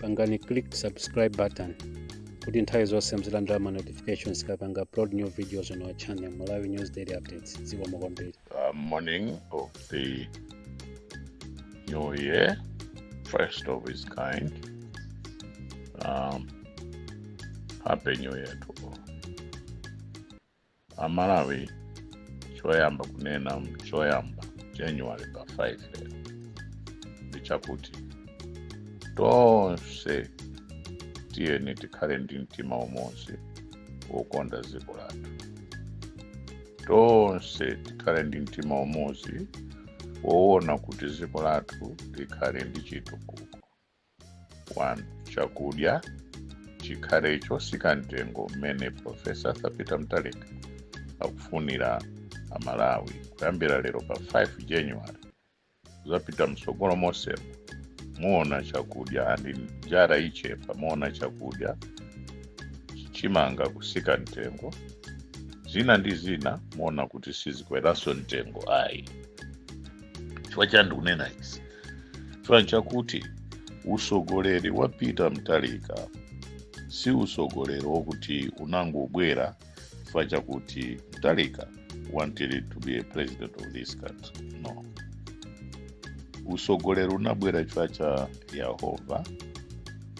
pangani click subscribe button kuti nthawi zonse muzilandira ma notifications kapanga upload new videos on our channel malawi news daily updates dziko mokwambiri uh, morning of the new year, first of its kind. Um, happy New Year to all. amalawi choyamba kunena choyamba january pa 5 lero ndi chakuti tonse tiyeni tikhale ndi mtima umodzi wokonda dziko lathu tonse tikhale ndi mtima umodzi woona kuti dziko lathu likhale ndi chitukuko 1 chakudya chikhale chosika mtengo mmene profesa arthur peter mutharika akufunira amalawi kuyambira lero pa 5 january zapita mtsogolo mosemo muona chakudya ndi njala ichepa muona chakudya chimanga kusika mtengo zina ndi zina muona kuti sizikweranso mtengo ayi chifukwa chani ndikunena izi chifukwa chakuti usogoleri wa peter mutharika si usogoleri wokuti unangobwera chifukwa chakuti mutharika wanted to be a president of this country no usogoleri unabwera chifukwa cha yehova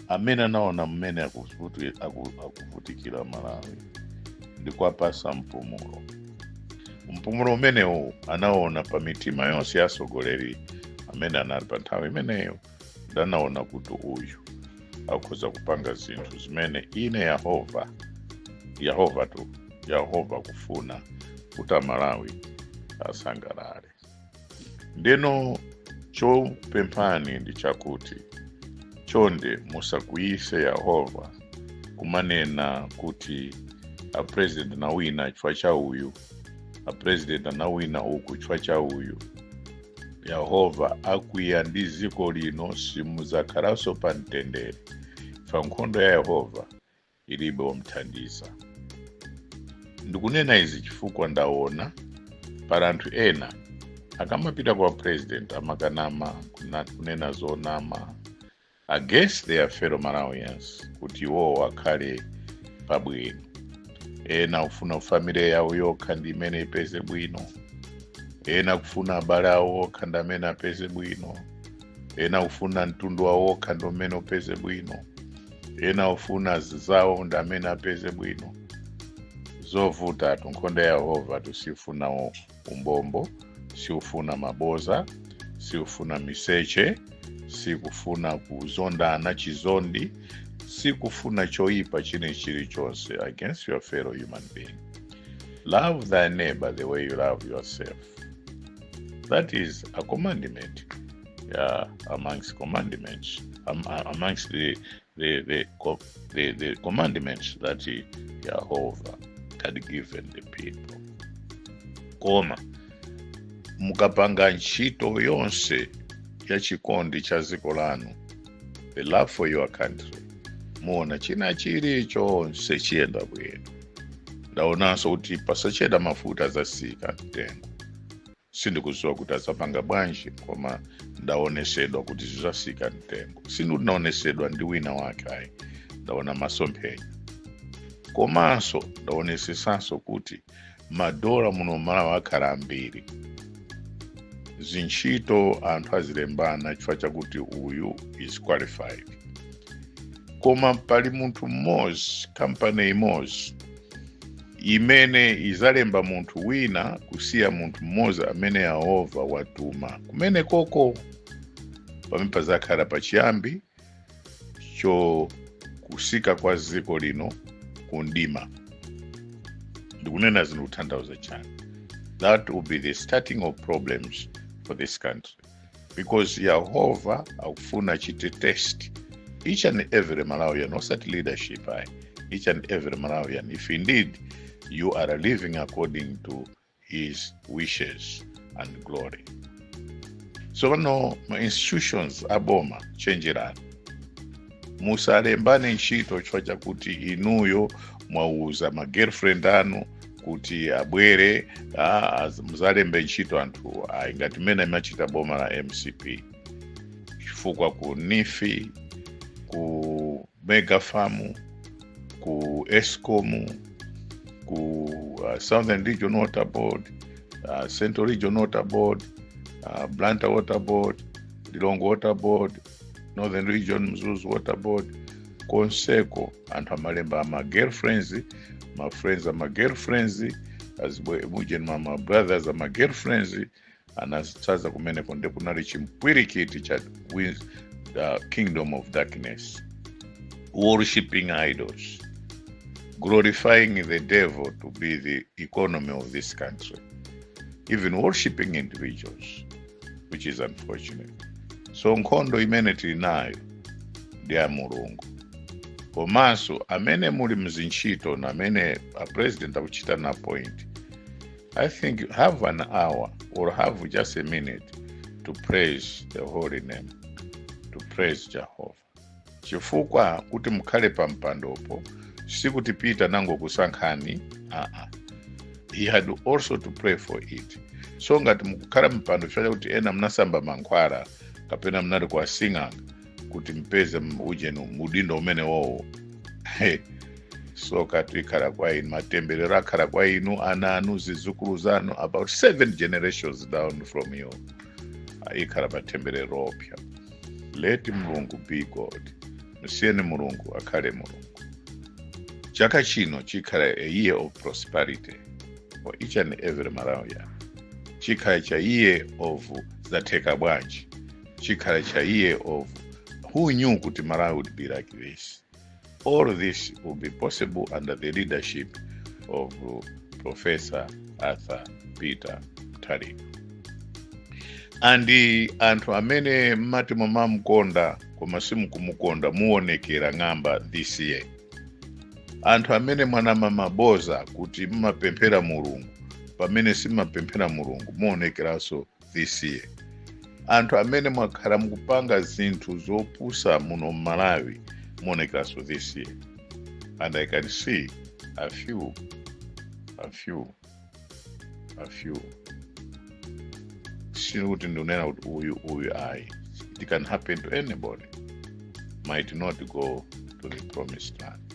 amene anaona mmene akuvuti- aku- akuvutikira amalawi ndi kuwapasa mpumulo mpumulo umenewu anaona pa mitima yonse ya atsogoleri amene anali pa nthawi imeneyo ndi anaona kuti uyu akhoza kupanga zinthu zimene ine yehova yehova tu yehova kufuna kuti amalawi asangalale ndeno chopemphani ndi chakuti chonde musakwiyise yehova kumanena kuti apresident anawina chifukwa cha uyu apresident anawina uku chifukwa cha uyu yehova akwiya ndi dziko lino simudzakhalanso pa mtendere pa nkhondo ya yehova ilibe omthandiza. Ndikunena izi chifukwa ndaona pali anthu ena akamapita kwa president amakanama kuna- kunena zonama against their fellow Malawians kuti iwowo akhale pabwino. Ena kufuna family yawo yokha ndi imene ipeze bwino, ena kufuna abale awo okha ndi amene apeze bwino, ena kufuna mtundu wawo okha ndi umene upeze bwino. ena ofuna anzawo ndi amene apeze bwino zovutatu nkhondo ya yehova tu sifuna u- umbombo siufuna maboza siufuna miseche sikufuna kuzondana chizondi sikufuna choyipa china chilichonse against your fellow human being love thy neighbor the way you love yourself that is a commandment uh, amongst the commandments that Jehovah had given the people. Koma mukapanga ntchito yonse ya chikondi cha dziko lanu, the love for your country, muona china chilichonse chiyenda bwino. Ndaonanso kuti pasachedwa mafuta azasika mtengo. sindikuziwa kuti azapanga bwanji koma ndaonesedwa kuti zizasika mtengo sindinaonesedwa ndi wina wake ayi ndaona masomphenya komanso ndaonesedwanso kuti madola muno malawi akhala ambiri zintchito anthu azilembana chifukwa chakuti uyu is qualified koma pali munthu mmodzi kampani imodzi imene izalemba munthu wina kusiya munthu mmodzi amene yehova watuma kumene koko pamene pazakhala pachiyambi cho kutsika kwa dziko lino ku mdima ndikunena izi ndikutanthauza chani that will be the start of problems for this country because yehova akufuna achite test each and every malawian osati leadership ayi each and every malawian if indeed you are living according to his wishes and glory so pano ma institutions aboma chenjerani musalembane ntchito chifukwa chakuti inuyo mwauza ma girlfriend anu kuti abwere ah, az- muzalembe ntchito anthu ayi ngati mmene limachitira boma la mcp chifukwa ku neef ku mega farm ku escom ku uh, southern region water board uh, central region water board uh, blantyre water board lilongwe water board northern region mzuzu waterboard konseko anthu amalemba ama girlfriends ma friends ama girlfriends azibale ujeni ma brothers ama girlfriends anadzaza kumeneko nde kunali chimpwirikiti cha kingdom of darkness worshipping idols glorifying the devil to be the economy of this country even worshipping individuals which is unfortunate so nkhondo imene tili nayo ndi ya mulungu komanso amene muli mzintchito ndi amene a president akuchita appoint i think have an hour or have just a minute to praise the holy name to praise jehovah chifukwa kuti mukhale pa mpandopo sikuti peter anangokusankhani aa he had also to pray for it so ngati mukukhala mpando chifukwa chakuti ena mnasamba mankhwala kapena mnali kwa sing'anga kuti mpeze ujeni udindo umenewowo tsoka likhala kwa inu matemberero akhala kwa inu ana anu zizukulu zanu about seven generations down from you ikhala matemberero oopsa let mulungu be god musiyeni mulungu akhale mulungu chaka chino chikhale a year of prosperity for each and every malawian chikhale cha year of zatheka bwanji chikhale cha year of who knew kuti malawi would be like this All this will be possible under the leadership of Professor Arthur Peter Mutharika. And anthu amene mmati mumamukonda koma simukumukonda muonekera ng'amba this year. Anthu amene mumanama maboza kuti mmapemphera Mulungu pamene simumapemphera Mulungu muonekeranso this year anthu amene mwakhala mukupanga zinthu zopusa muno mmalawi muonekeranso this year and i can see a few a few a few sikuti ndikunena kuti uyu uyu ayi it can happen to anybody might not go to the promised land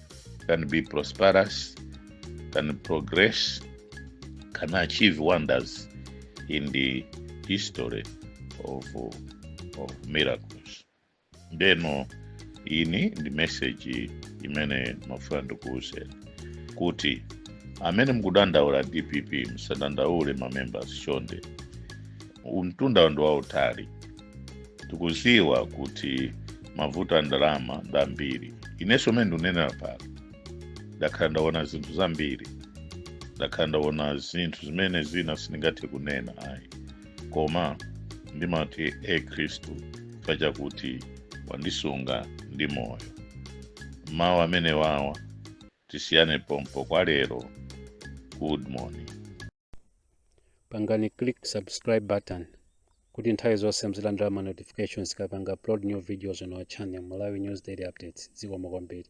can be prosperous, can progress, can achieve wonders in the history of, of miracles. Ndeno iyi ndi message imene ndimafuna ndikuuzeni kuti amene mukudandaula dpp musadandaule mamembers chonde mtunda ndi wautali tikuziwa kuti mavuto a ndalama ndi ambiri inenso mene ndikunenera pano ndakhala ndaona zinthu zambiri ndakhala ndaona zinthu zimene zina sindingathe kunena ayi koma ndimati e khristu chifukwa chakuti wandisunga ndi moyo mawu amenewawa tisiyane pompo kwa lero good morning pangani click subscribe button kuti nthawi zonse muzilandira ma notifications tikapanga upload new videos on our channel Malawi News Daily Updates zikomo kwambiri